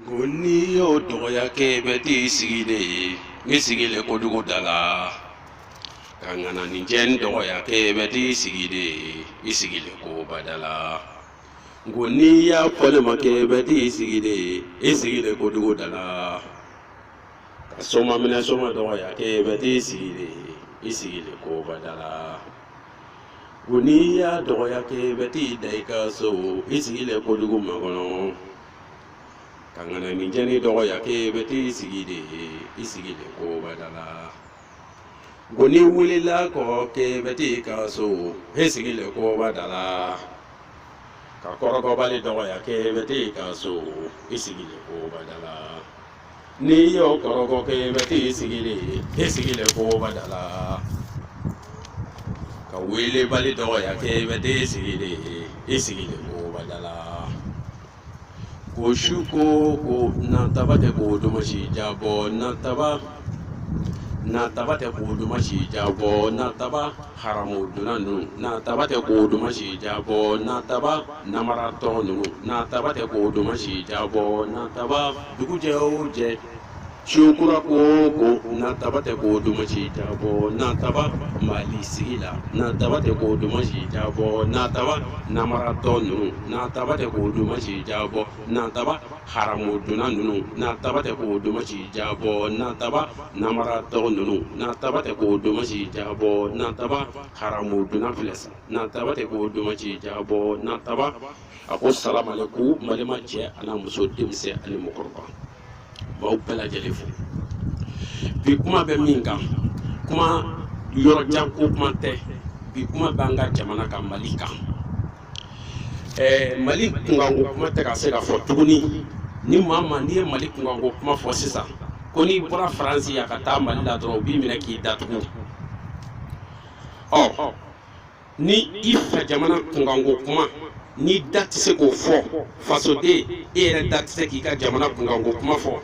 ko n'i y'o dɔgɔya kɛ i bɛ t'i sigi de ye n sigilen kojugu da la ka ŋananinjɛ n dɔgɔya kɛ i bɛ t'i sigi de ye i sigilen koba da la n ko n'i y'a fɔ ne ma kɛ i bɛ t'i sigi de ye i sigilen kojugu da la ka soma minɛ soma dɔgɔya kɛ i bɛ t'i sigi de ye i sigilen koba da la ko n'i y'a dɔgɔya kɛ i bɛ t'i da i ka so i sigilen kojugu makɔnɔ ka ŋananin jɛni dɔgɔya k'e bɛ t'i sigi de i sigilen koba da la ko n'i wulila kɔ k'e bɛ t'i ka so e sigilen koba da la ka kɔrɔkɔbali dɔgɔya k'e bɛ t'i ka so i sigilen koba da la n'i y'o kɔrɔkɔ kɛ i bɛ t'i sigi de i sigilen koba da la ka weelebali dɔgɔya kɛ i bɛ t'i sigi de i sigilen koba da la ko su ko o ko nataba tɛ ko duman si diyabɔ nataba nataba tɛ ko duman si diyabɔ nataba haramudunna ninnu nataba tɛ ko duman si diyabɔ nataba namaratɔ ninnu nataba tɛ ko duman si diyabɔ nataba dugu jɛ o jɛ su kura ko o ko nataba tɛ ko duman si diyabɔ nataba mali sigi la nataba tɛ ko duman si diyabɔ nataba namaratɔ ninnu nataba tɛ ko duman si diyabɔ nataba haramudunna ninnu nataba tɛ ko duman si diyabɔ nataba namaratɔ ninnu nataba tɛ ko duman si diyabɔ nataba haramudunna filɛ sa nataba tɛ ko duman si diyabɔ nataba a ko salamaleku balima cɛ ani muso denmisɛn ani mɔgɔkɔrɔba b'aw bɛɛ lajɛlen fo bi kuma bɛ min kan kuma yɔrɔ jan ko kuma tɛ bi kuma b'an ka jamana kan mali kan ɛɛ mali kunkanko kuma tɛ ka se ka fɔ tuguni ni maa maa n'i ye mali kunkanko kuma fɔ sisan ko n'i bɔra faransi yan ka taa mali la dɔrɔn u b'i minɛ k'i datugu ɔ ni i fa jamana kunkanko kuma n'i da tɛ se k'o fɔ fasoden e yɛrɛ da tɛ se k'i ka jamana kunkanko kuma fɔ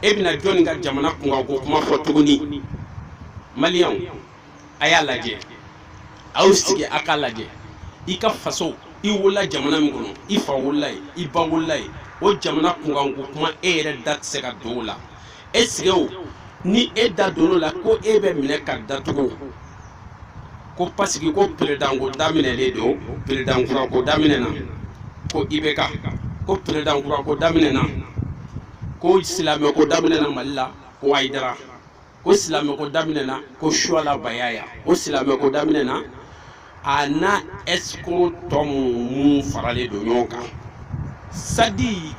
e bɛna jɔnni ka jamana kunkanko kuma fɔ tuguni maliyɛnw a y'a lajɛ a y'aw sigi a k'a lajɛ i ka faso i wolola jamana min kɔnɔ i fa wolola yen i ba wolola yen o jamana kunkanko kuma e yɛrɛ da tɛ se ka don o la e sigi o ni e da don o la ko e bɛ minɛ ka datugu ko pasiki ko peredanko daminɛlen don peredankurako daminɛna ko ibeka ko peredankurako daminɛna ko silamɛko daminɛna mali la ko ayidara ko silamɛko daminɛna ko suwala bayaya ko silamɛko daminɛna a n'a ɛsikoro tɔ minnu faralen don ɲɔgɔn kan sadi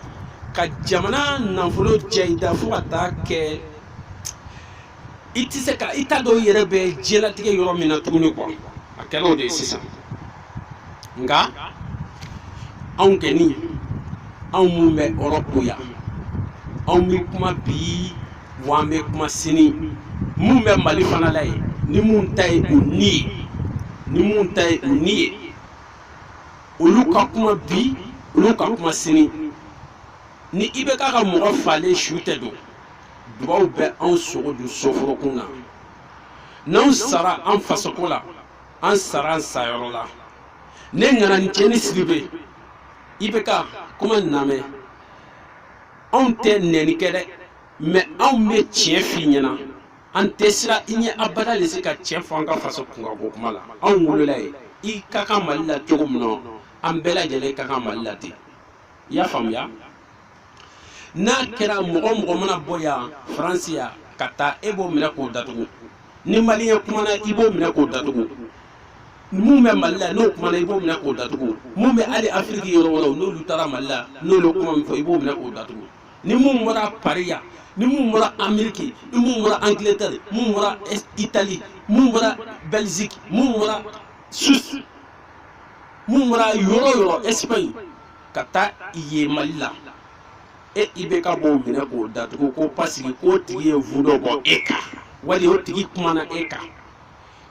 ka jamana nafolo cɛ i da fo ka taa kɛ i tɛ se ka i t'a dɔn i yɛrɛ bɛ diɲɛlatigɛ yɔrɔ min na tuguni kuwa a kɛra o de ye sisan. nka anw kɛni anw minnu bɛ erɔpu yan anw bɛ kuma bi wa an bɛ kuma sini minnu bɛ mali fana la yen ni minnu ta ye u ni ye ni minnu ta ye u ni ye olu ka kuma bi olu ka kuma sini ni IBK ka mɔgɔ falen su tɛ don dugaw bɛ anw sogo dun soforokun na n'anw sara an fasoko la an sara an sayɔrɔ la ne ŋananin cɛnin sidibe IBK kuma namɛ anw tɛ nɛni kɛ dɛ mɛ anw be tiɲɛ f'i ɲɛ na an tɛ siran i ɲɛ abada le se ka tiɲɛ fɔ an ka faso kunkanko kuma la anw wolola yen i ka kan mali la cogo min na an bɛɛ lajɛlen ka kan mali la ten i y'a faamuya n'a kɛra mɔgɔ o mɔgɔ mana bɔ yan faransi yan ka taa e b'o minɛ k'o datugu ni maliyɛn kumana i b'o minɛ k'o datugu mun bɛ mali la n'o kumana i b'o minɛ k'o datugu mun bɛ hali afiriki yɔrɔ wɛrɛw n'olu taara mali la n'olu kuma min fɔ i b'o minɛ k'o datugu ni mun bɔra pari yan ni mun bɔra ameriki ni mun bɔra angleterre mun bɔra itali mun bɔra belgique mun bɔra suisse mun bɔra yɔrɔ yɔrɔ espagne ka taa yen mali la e IBK b'o minɛ k'o datugu ko pasiki k'o tigi ye video bɔ e kan wali o tigi kumana e kan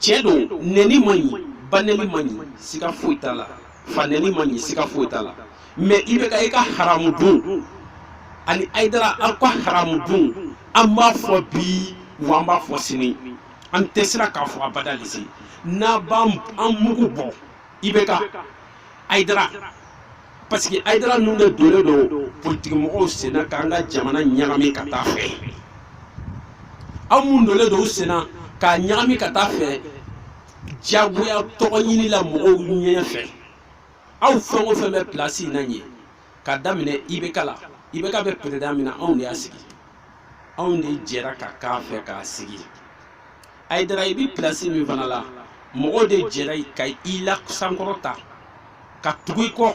tiɲɛ don nɛni man ɲi banɛni man ɲi siga foyi t'a la fanɛni man ɲi siga foyi t'a la mɛ IBK i ka haramu dun ani ayidara aw ka haramu dun an b'a fɔ bi wa an b'a fɔ sini an tɛ siran k'a fɔ abada lise n'a b'an mugu bɔ IBK Aïdara parce que Aïdara ninnu de donnen don politikimɔgɔw sen na k'an ka jamana ɲagami ka taa fɛ aw mun donnen don u sen na k'a ɲagami ka taa fɛ diyagoya tɔgɔ ɲini la mɔgɔw ɲɛ fɛ aw fɛn o fɛn bɛ pilasi in na ɲɛ ka daminɛ IBK la IBK bɛ peredan min na anw de y'a sigi anw de jɛra ka k'a fɛ k'a sigi ayidara i bi pilasi min fana la mɔgɔw de jɛra ka i lasankɔrɔta ka tugu i kɔ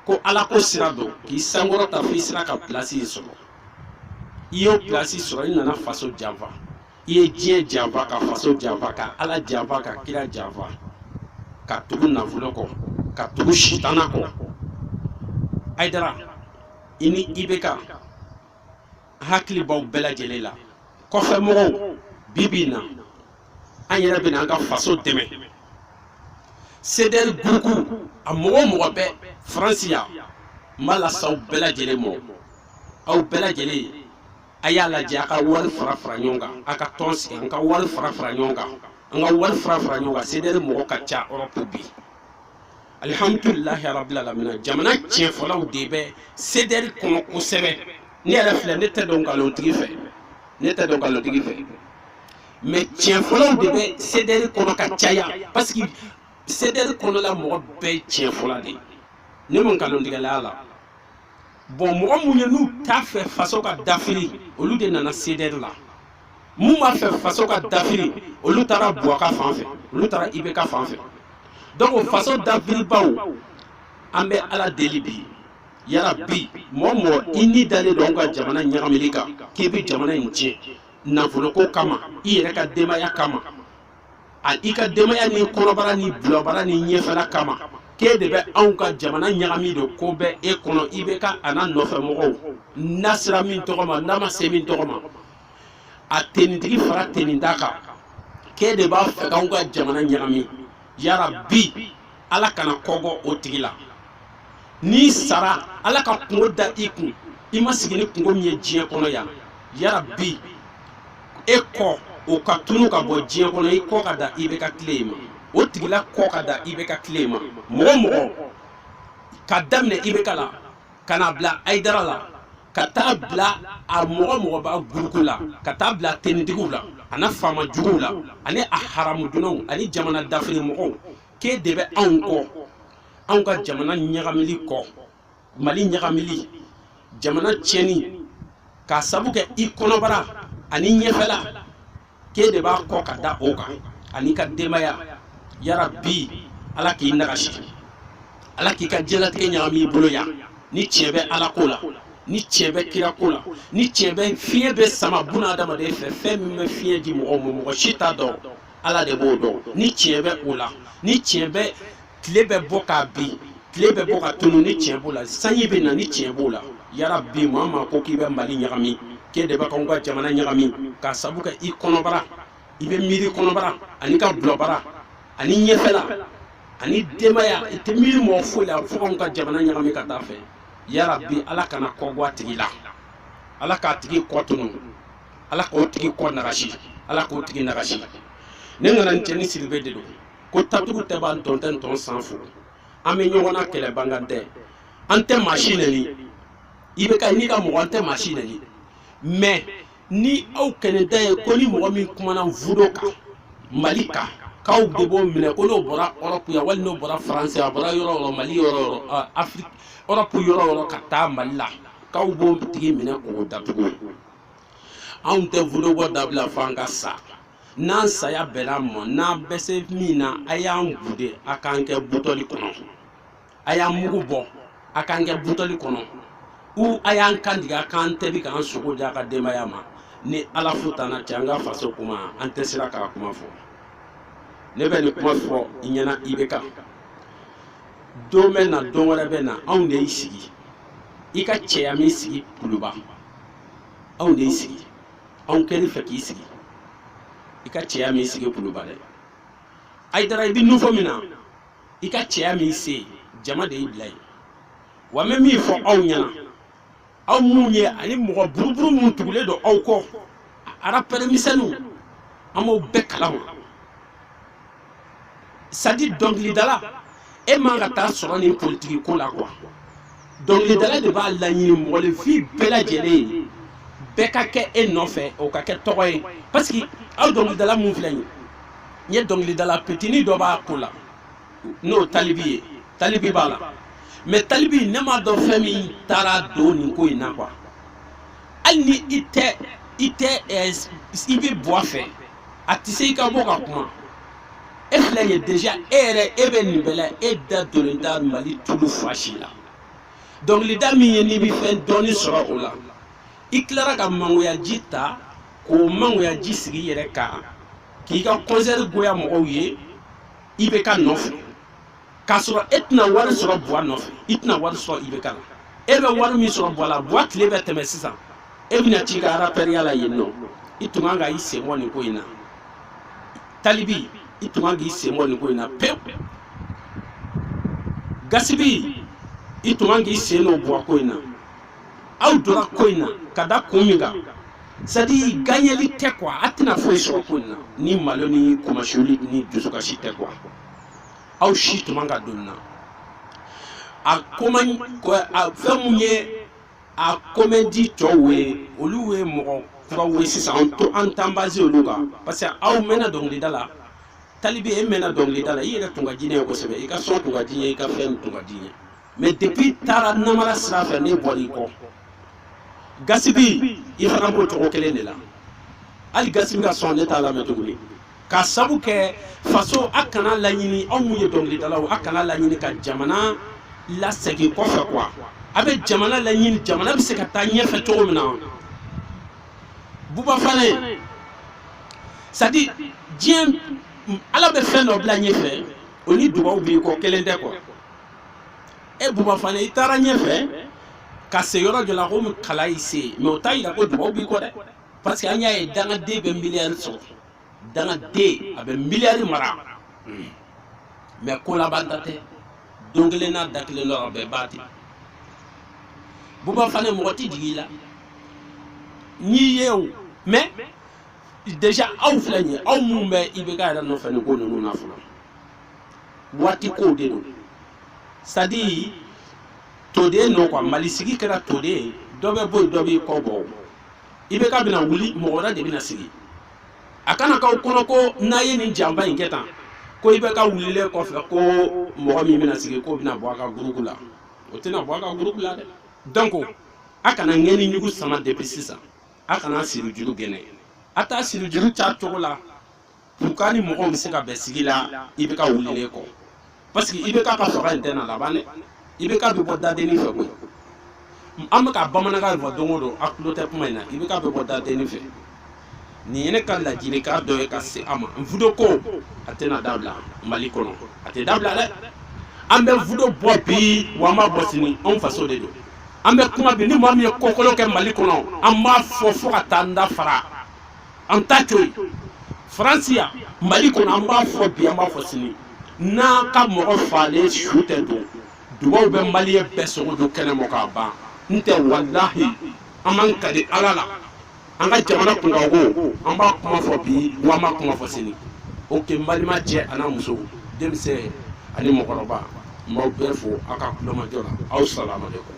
ko alako sira don k'i sankɔrɔta fo i sera ka pilasi in sɔrɔ i y'o pilasi sɔrɔ i nana faso janfa i ye diɲɛ janfa ka faso janfa ka ala janfa ka kira janfa ka tugu nafolo kɔ ka tugu sitana kɔ ayidara i ni IBK hakili b'aw bɛɛ lajɛlen la kɔfɛ mɔgɔw bi bi in na an yɛrɛ bɛna an ka faso dɛmɛ sedɛri guruku a mɔgɔ o mɔgɔ bɛ faransi yan n b'a lase aw bɛɛ lajɛlen ma aw bɛɛ lajɛlen a y'a lajɛ a ka wari fara fara ɲɔgɔn kan a ka tɔn sigi an ka wari fara fara ɲɔgɔn kan an ka wari fara fara ɲɔgɔn kan sedɛri mɔgɔ ka ca erɔpu bi alihamudulilahi rabbil alamina jamana tiɲɛfɔlaw de bɛ sedɛri kɔnɔ kosɛbɛ ne yɛrɛ filɛ ne tɛ don nkalontigi fɛ ne tɛ don nkalontigi fɛ mais tiɲɛfɔlaw de bɛ sedɛri kɔnɔ ka caya parce que sedɛri kɔnɔla mɔgɔ bɛɛ ye tiɲɛfɔla de ye ne ma nkalontigɛla y'a la bɔn mɔgɔ minnu ye n'u t'a fɛ faso ka dafiri olu de nana sedɛri la min b'a fɛ faso ka dafiri olu taara buwa ka fan fɛ olu taara ibeka fan fɛ donc faso dafiribaw an bɛ ala deli bi yarabi mɔgɔ mɔgɔ i ni dalen don ka jamana ɲagamili kan k'i bɛ jamana in tiɲɛ nafoloko kama i yɛrɛ ka denbaya kama a i ka denbaya ni kɔnɔbara ni bulabara ni ɲɛfɛla kama k'e de bɛ anw ka jamana ɲagami don ko bɛ e kɔnɔ ibeka a n'a nɔfɛ mɔgɔw n'a sera min tɔgɔ ma n'a ma se min tɔgɔ ma a tenitigi fara tenintan kan k'e de b'a fɛ k'anw ka jamana ɲagami yarabi ala kana kɔgɔ o tigi la n'i sara ala ka kunko da i kun i ma sigi ni kunko min ye diɲɛ kɔnɔ yan yarabi e kɔ o ka tunu ka bɔ diɲɛ kɔnɔ i kɔ ka da ibeka tile in ma o tigila kɔ ka da ibeka tile in ma mɔgɔ mɔgɔ ka daminɛ ibeka la ka na bila ayidara la ka taa bila a mɔgɔ mɔgɔ b'a guruku la ka taa bila tenitigiw la ani faama juguw la ani a haramu dunnaw ani jamana dafiri mɔgɔw k'e de bɛ anw kɔ anw ka jamana ɲagamili kɔ mali ɲagamili jamana tiɲɛni k'a sabu kɛ i kɔnɔbara ani i ɲɛfɛla k'e de b'a kɔ ka da o kan ani i ka denbaya yarabi ala k'i nagasi ala k'i ka diɲɛlatigɛ ɲagami i bolo yan ni tiɲɛ bɛ ala ko la ni tiɲɛ bɛ kira ko la ni tiɲɛ bɛ fiɲɛ bɛ sama buna adamaden fɛ fɛn min bɛ fiɲɛ di mɔgɔw ma mɔgɔ si t'a dɔn ala de b'o dɔn ni tiɲɛ bɛ o la ni tiɲɛ bɛ tile bɛ bɔ ka bin tile bɛ bɔ ka tunu ni tiɲɛ b'o la sanji bɛ na ni tiɲɛ b'o la yarabi maa maa ko k'i bɛ mali ɲagami k'e de bɛ k'anw ka jamana ɲagami k'a sabu kɛ i kɔnɔbara i bɛ miiri kɔnɔbara ani ka bulɔbara ani ɲɛfɛla ani denbaya i tɛ miiri mɔgɔ foyi la fo k'anw ka jamana ɲagami ka taa fɛ yarabi ala kana kɔgɔ a tigi la ala k'a tigi kɔ tunu ala k'o tigi kɔ nagasi ala k'o tigi nagasi ne ŋana cɛni sidibe de don ko tatugu tɛ b'an tɔn tɛ n tɔn san fo an bɛ ɲɔgɔn na kɛlɛ bangan tɛ an tɛ maa si nɛni IBK n'i ka mɔgɔ an tɛ maa si nɛni mɛ ni aw kɛnɛ da ye ko ni mɔgɔ min kumana vudo kan mali kan k'aw de b'o minɛ ko n'o bɔra ɔrɔpu yan wali n'o bɔra faransi a bɔra yɔrɔ yɔrɔ mali yɔrɔ yɔrɔ afiriki ɔrɔpu yɔrɔ yɔrɔ ka taa mali la k'aw b'o tigi minɛ k'o datugu anw tɛ vudo bɔ dabila fo an ka sa n'an saya bɛnna an ma n'an bɛ se min na a y'an gude a k'an kɛ butɔli kɔnɔ a y'an mugu bɔ a k'an kɛ butɔli kɔnɔ u a y'an kan tigɛ a k'an tobi k'an sogo di a ka denbaya ma ni ala fo t'an na cɛ an ka faso kuma an tɛ siran k'a kuma fɔ ne bɛ nin kuma fɔ i ɲɛna IBK don bɛ na don wɛrɛ bɛ na anw de y'i sigi i ka cɛya m'i sigi kuluba anw de y'i sigi anw kɛlen i fɛ k'i sigi i ka cɛya m'i sigi kuluba dɛ ayidara i bɛ nufɔ min na i ka cɛya m'i se jama de y'i bila yen wa n bɛ min fɔ aw ɲɛna aw minnu ye ani mɔgɔ buruburu minnu tugulen don aw kɔ arapɛri misɛnninw an b'aw bɛɛ kalama sadi dɔnkilidala e man ka taa sɔrɔ nin politiki ko la kuwa dɔnkilidala de b'a laɲini mɔgɔninfin bɛɛ lajɛlen ye bɛɛ ka kɛ e nɔfɛ o ka kɛ tɔgɔ ye parce que aw dɔnkilidala minnu filɛ nin ye dɔnkilidala petini dɔ b'a ko la n'o talibi ye talibi b'a la mɛ talibi ne m'a dɔn fɛn min taara don nin ko in na kuwa hali ni i tɛ i tɛ i bɛ buwa fɛ a tɛ se i ka bɔ ka kuma e filɛ ye déjà e yɛrɛ e bɛ nin bɛɛ la e da donnen tɛ Mali tulu fa si la dɔnkilida min ye n'i bɛ fɛn dɔɔni sɔrɔ o la i tilara ka mangoyaji ta k'o mangoyaji sigi i yɛrɛ kan k'i ka concert goya mɔgɔw ye IBK nɔfɛ k'a sɔrɔ e tɛna wari sɔrɔ buwa nɔfɛ i tɛna wari sɔrɔ IBK la e bɛ wari min sɔrɔ buwa la buwa tile bɛ tɛmɛ sisan e bɛna t'i ka arapɛriya la yen nɔ i tun kan ka i sen bɔ nin ko in na talibi i tun kan k'i sen bɔ nin ko in na pewu gasipi i tun kan k'i sen don buwa ko in na aw donna ko in na ka da kun min kan sadi ganyeli tɛ kuwa a tɛna foyi sɔrɔ ko in na ni malo ni kunmasuli ni dusukasi tɛ kuwa aw si tun man ka don nin na a ko man a fɛn mun ye a komɛdi tɔw ye olu ye mɔgɔ kuraw ye sisan an to an t'an base olu kan parce que aw mɛnna dɔnkilida la talibi e mɛnna dɔnkilida la i yɛrɛ tun ka di ne ye kosɛbɛ i ka sɔn tun ka di n ye i ka fɛn tun ka di n ye mais depuis i taara namara sira fɛ ne bɔra i kɔ gaspi i fana b'o cogo kelen de la hali gaspi ka son ne t'a lamɛn tuguni k'a sabu kɛ faso a kana laɲini aw mun ye dɔnkilidalaw a kana laɲini ka jamana lasegin kɔfɛ quoi a bɛ jamana laɲini jamana bɛ se ka taa ɲɛfɛ cogo min na buba fane c'est à dire diɲɛ ala bɛ fɛn dɔ bila ɲɛfɛ o ni dubaw b'i kɔ kelen tɛ quoi e buba fane i taara ɲɛfɛ ka se yɔrɔ dɔ la komi k'ala y'i se mais o t'a yira ko dubaw b'i kɔ dɛ parce que an y'a ye dangaden bɛ miliyari sɔrɔ dangaden a bɛ miliyari mara mais ko laban ta tɛ don kelen n'a da kelen dɔrɔn a bɛɛ b'a ten buba fane mɔgɔ tɛ jigi i la nin ye o mais déjà aw filɛ nin ye aw minnu bɛ IBK yɛrɛ nɔfɛ nin ko ninnu na fɔlɔ waati kow de don c'est à dire tour de don quoi mali sigi kɛra tour de ye dɔ bɛ bɔ yen dɔ b'i kɔ bɔ IBK bɛna wuli mɔgɔ wɛrɛ de bɛna sigi a kana k'aw kɔnɔ ko n'a ye nin janba in kɛ tan ko IBK wulilen kɔfɛ ko mɔgɔ min bɛna sigi k'o bɛna bɔ a ka gurupu la o tɛna bɔ a ka gurupu la dɛ donc a kana ŋɛni ɲugu sama depuis sisan a kana siri juru gɛnɛ a t'a siri juru ca cogo la pour que ni mɔgɔw bɛ se ka bɛn sigi la IBK wulilen kɔ parce que IBK ka fanga in tɛna laban dɛ IBK bɛ bɔ dadenni fɛ koyi an bɛ ka bamanankan fɔ don o don a tulo tɛ kuma in na IBK bɛ bɔ dadenni fɛ nin ye ne ka ladilikan dɔ ye ka se a ma vidéo ko a tɛna dabila mali kɔnɔ a tɛ dabila dɛ an bɛ vidéo bɔ bi wa an b'a bɔ sini anw faso de don an bɛ kuma bi ni maa min ye kokolon kɛ mali kɔnɔ an b'a fɔ fo ka taa an da fara an t'a to yen faransi yan mali kɔnɔ an b'a fɔ bi an b'a fɔ sini n'an ka mɔgɔ faalen su tɛ don dugaw bɛ maliyɛn bɛɛ sogo dun kɛnɛ ma k'a ban ten walahi an b'an kali ala la an ka jamana kunkanko an b'a kuma fɔ bi wa an b'a kuma fɔ sini oke balima cɛ an'a muso denmisɛn ani mɔgɔkɔrɔba n b'aw bɛɛ fo aw ka tulomajɔ la aw salamalekun